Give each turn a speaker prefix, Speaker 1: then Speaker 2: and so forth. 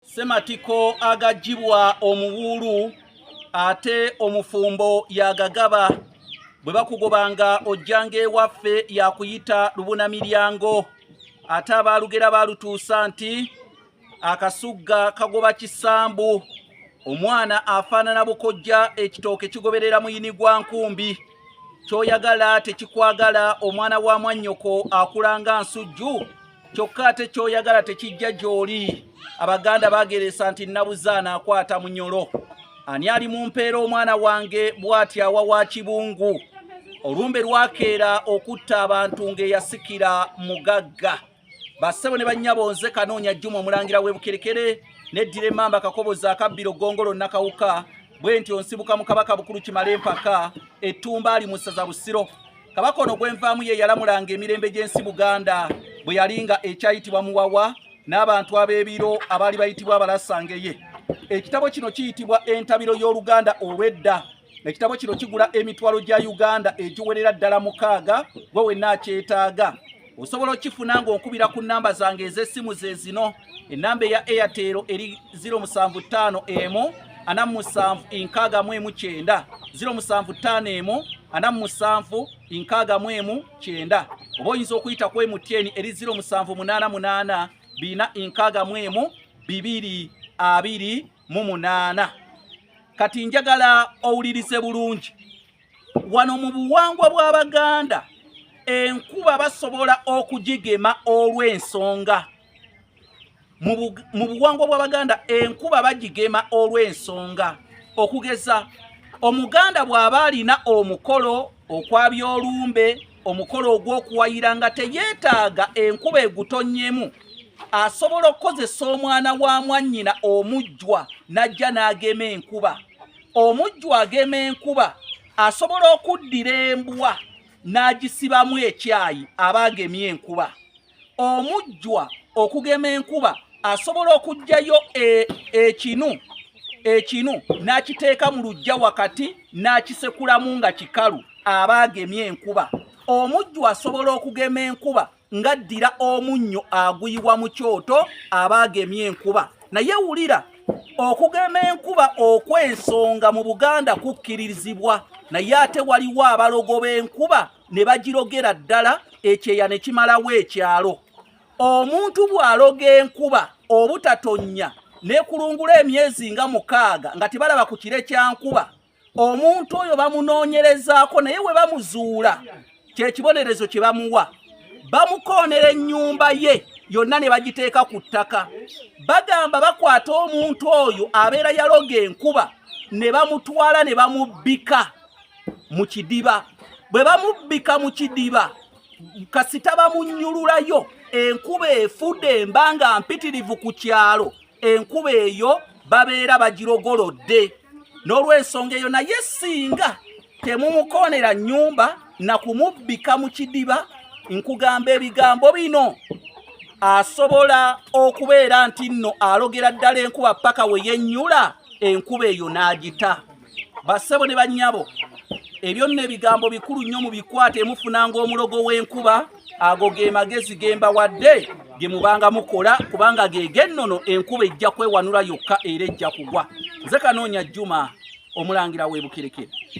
Speaker 1: Ssematiko agagibwa omuwuulu ate omufumbo yagagaba bwe bakugobanga ojjanga ewaffe yakuyita lubuna miryango ate abaalugera baalutuusa nti akasugga kagoba kisambu omwana afaanana bukojja ekitooke kigoberera muyini gwa nkumbi kyoyagala tekikwagala omwana wa mwannyoko akulanga nsujju kyokka ate kyoyagala tekijja gyoli abaganda bageresa nti nabuza anaakwata munyolo ani ali mu mpeera omwana wange bwati awa wa kibungu olumbe lwakeera okutta abantu ng'eyasikira mugagga bassebo ne bannyabo nze kanoonya jjuma omulangira w'ebukerekere neddira emmamba kakoboza akabbiro gongolo nakawuka bwe nti onsibuka mu kabaka bukulu kimale empaka ettumba ali mu ssaza busiro kabaka ono gwenvaamu ye yalamulanga emirembe gy'ensi buganda bwe yali nga ekyayitibwa muwawa n'abantu ab'ebiro abaali bayitibwa abalasangeye ekitabo kino kiyitibwa entabiro y'oluganda olw'edda ekitabo kino kigula emitwalo gya uganda egiwerera ddala mukaaga gwe wenna akyetaaga osobola okifuna ng'onkubira ku nnamba zange ez'essimu ze zino ennamba eya airtel eri 075 emu ana musanvu enkaaga mu emu kyenda 075 emu ana musanvu enkaaga mu emu kyenda oba oyinza okuyita ku emutn eri 078 bina enkaaga mu emu bibiri abiri mu munaana kati njagala owulirize bulungi wano mu buwangwa bw'abaganda enkuba basobola okugigema olw'ensonga mu buwangwa bw'abaganda enkuba bagigema olw'ensonga okugeza omuganda bw'aba alina omukolo okwabya olumbe omukolo ogw'okuwayira nga teyeetaaga enkuba egutonnyemu asobola okukozesa omwana wa mwannyina omujjwa n'ajja n'agema enkuba omujju agema enkuba asobola okuddira embwa n'agisibamu ekyayi aba agemye enkuba omujjwa okugema enkuba asobola okugyayo e, ekinu ekinu n'akiteeka mu lujja wakati n'akisekulamu nga kikalu aba agemye enkuba omujju asobola okugema enkuba ngaddira omunnyo aguyiwa mu kyoto aba agemye enkuba naye wulira okugema enkuba okw'ensonga mu buganda kukkirizibwa naye ate waliwo abalogo b'enkuba ne bagirogera ddala ekyeya ne kimalawo ekyalo omuntu bw'aloga enkuba obutatonnya nekulungula emyezi nga mukaaga nga tebalaba ku kire kya nkuba omuntu oyo bamunoonyerezaako naye we bamuzuula kyekibonerezo kye bamuwa bamukoonera ennyumba ye yonna ne bagiteeka ku ttaka bagamba bakwata omuntu oyo abeera yaloga enkuba ne bamutwala ne bamubbika mu kidiba bwe bamubbika mu kidiba kasita bamunyululayo enkuba efude embanga mpitirivu ku kyalo enkuba eyo babeera bagirogolodde n'olwensonga eyo naye singa temumukoonera nnyumba na kumubbika mu kidiba nkugamba ebigambo bino asobola okubeera nti nno alogera ddala enkuba paka we yennyula enkuba eyo n'agita bassebo ne bannyabo ebyo nno ebigambo bikulu nnyo mu bikwate mufunanga omulogo w'enkuba ago ge magezi gemba wadde ge mubanga mukola kubanga gegennono enkuba ejja kwewanula yokka era ejja kugwa nze kanoonya jjuma omulangira w'ebukerekere